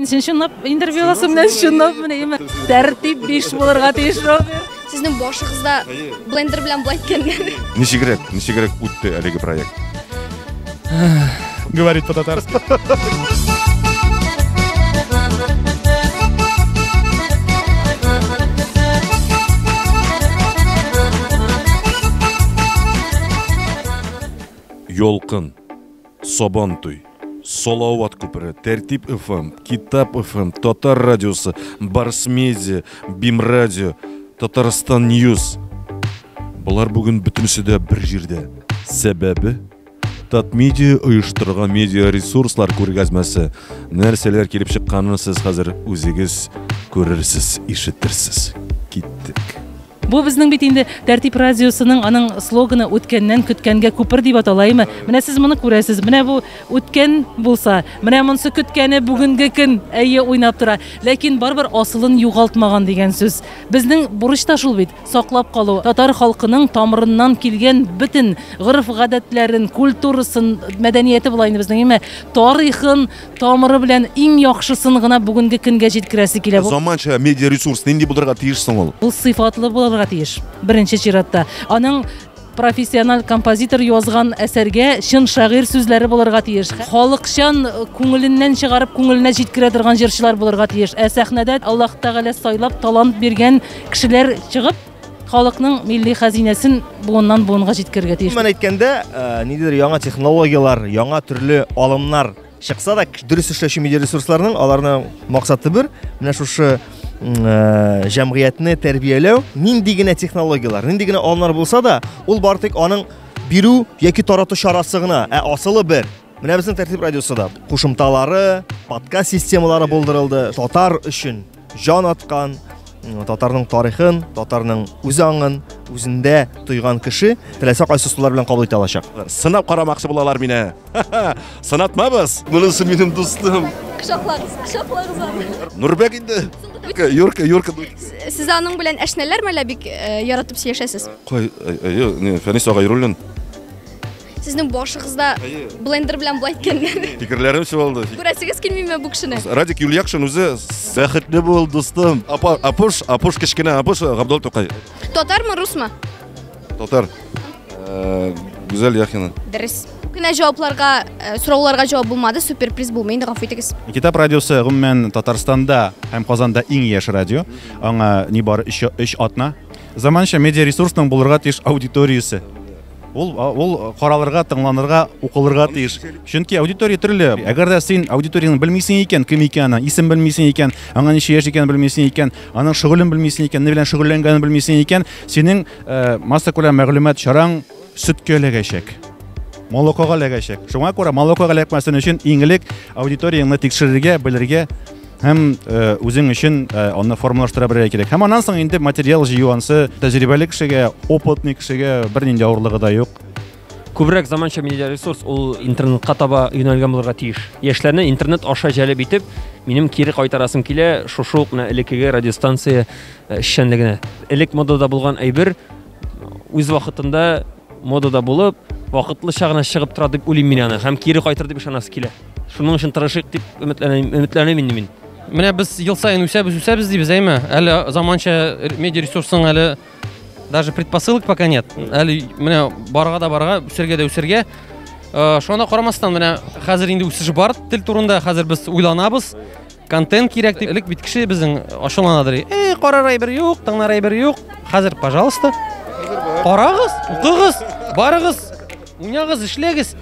Син чынлап интервью аласың менә чынлап менә имә. Тәртип биш булырга тиеш Роберт. Сезнең башыгызда блендер белән болай иткәнгә. Ничегрәк, ничегрәк үтте әлеге проект? Говорит по-татарски. Йолкын. Сабантуй, Салават күпере, Тәртип FM, Китап FM, Татар радиосы, Барс Медиа, Бим радио, Татарстан Ньюс. Болар бүген бөтенесе дә бер җирдә. Сәбәбе Татмедиа оештырган медиа ресурслар күргәзмәсе. Нәрсәләр килеп чыкканын сез хәзер үзегез күрерсез, ишетерсез. Киттек. Бу безнең бит инде Тәртип радиосының аның слоганы үткәннән көткәнгә күпер дип аталаймы? Менә сез моны күрәсез. Менә бу үткән булса, менә монсы көткәне бүгенге көн әйе уйнап тора. Ләкин барбер асылын югалтмаган дигән сүз. Безнең бурыч та шул бит, саклап калу. Татар халкының тамырыннан килгән бөтен гореф-гадәтләрен, культурасын, мәдәнияте була инде безнең, әмма тарихын, Тамыры белән иң яхшысын гына бүгенге көнгә җиткерәсе килә. Бу Заманча медиа ресурс нинди булырга тиеш соң ул? ул сыйфатлы булырга тиеш, беренче чиратта. Аның профессиональ композитор язган әсәргә чын шагыйрь сүзләре булырга тиеш. Халыкчан, күңеленнән чыгарып, күңеленә җиткерә торган җырчылар булырга тиеш. Ә сәхнәдә Аллаһ Тәгалә сайлап талант биргән кешеләр чыгып, халыкның милли хәзинәсен буыннан буынга җиткерергә тиеш. Мен әйткәндә, э, ниндидер яңа технологияләр, яңа төрле алымнар чыкса да, дөрес эшләүче медиа ресурсларның аларның максаты бер, менә шушы э, җәмгыятьне тәрбияләү, нинди генә технологияләр, нинди генә алымнар булса да, ул бар тик аның бирү яки тарату чарасы гына, ә асылы бер. Менә безнең тәртип радиосы да кушымталары, подкаст системалары булдырылды татар өчен. җан аткан, татарның тарихын, татарның үз аңын үзендә тойган кеше теләсә кайсы сулар белән кабул итә алачак. Сынап карамакчы булалар мине. Сынатмабыз. Монысы минем дустым. Кочаклагыз, кочаклагыз аны. Нурбек инде. Юрка, Юрка. Сез аның белән әшнәләрме әллә бик э, яратып сөйләшәсез? Кой, э, э, не, Фәнис Агайруллин. Сезнең башыгызда блендер белән болай иткәннәр. Фикерләрем чуалды. Күрәсегез килмиме бу кешене? Радик Юльякшин үзе бәхетле бул, дустым. Апа, Апуш, Апуш кечкенә, Апуш Габдул Тукай. Татармы, русмы? Татар. Э, Гүзәл Яхина. Дөрес. Кенә җавапларга, э, сорауларга җавап булмады, суперприз булмый, инде гафу итегез. Китап радиосы гомумән Татарстанда һәм Казанда иң яшь радио. Аңа нибары 3 атна. Заманча медиа ресурсның булырга тиеш аудиториясе. Ул ул каралырга, тыңланырга, укылырга тиеш. Чөнки аудитория төрле. Әгәр дә син аудиторияне белмисең икән, кем икәнен, исем белмисең икән, аңа ничә яшь икәнен белмисең икән, аның шөгылен белмисең икән, ни белән шөгыльләнгәнен белмисең икән, синең э, масса күләм мәгълүмат чараң сөткә эләгәчәк. Молокога эләгәчәк. Шуңа күрә молокога эләкмәсен өчен иң элек аудиторияңне тикшерергә, белергә, һәм э, үзең өчен э, аны формалаштыра белергә кирәк һәм аннан соң инде материал җыю ансы тәҗрибәле кешегә опытный кешегә бернинди авырлыгы да юк күбрәк заманча медиа ресурс ул интернетка таба юнәлгән булырга тиеш яшьләрне интернет аша җәлеп итеп минем кире кайтарасым килә шушы ук менә элеккеге радиостанция э, эшчәнлегенә элек модада булган әйбер үз вакытында модада булып вакытлыча гына чыгып тора дип уйлыйм мин аны һәм кире кайтыр дип ышанасы килә Шуның өчен тырышыйк дип өметләнәм, өметләнәм инде мин. Менә без ел саен үсәбез, үсәбез дибез, әйме? Әле заманча медиа ресурсың әле даже предпосылок пока нет. Әле менә барга да барга, үсергә дә үсергә. Э, Шуңа да карамастан, менә хәзер инде үсеш бар тел турында, хәзер без уйланабыз. Контент кирәк дип элек бит кеше безнең ачуланадыр. Эй, карар әйбер юк, тыңнар әйбер юк. Хәзер, пожалуйста. Карагыз, укыгыз, барыгыз, уйнагыз, эшләгез.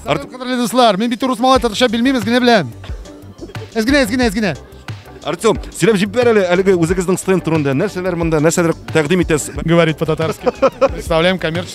Артур кадерле дуслар, мин бит урыс малай татарча белмибез генә белән. Эзгенә, эзгенә, эзгенә. Артем, сөйләп җиб бер әле әлеге үзегезнең стенд турында. Нәрсәләр монда, нәрсәләр тәкъдим итәсез? Говорит по-татарски. Представляем коммерческий.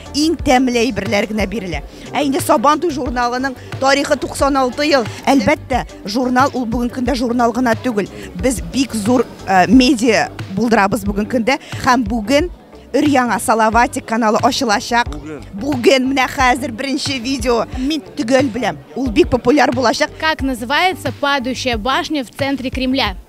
иң тәмле әйберләр генә бирелә. Ә инде Сабантуй журналының тарихы 96 ел. Әлбәттә, журнал ул бүгенге көндә журнал гына түгел. Без бик зур э, медиа булдырабыз бүгенге көндә һәм бүген өр яңа Салаватик каналы ачылачак. Бүген менә хәзер беренче видео. Мин төгәл беләм. Ул бик популяр булачак. Как называется падающая башня в центре Кремля?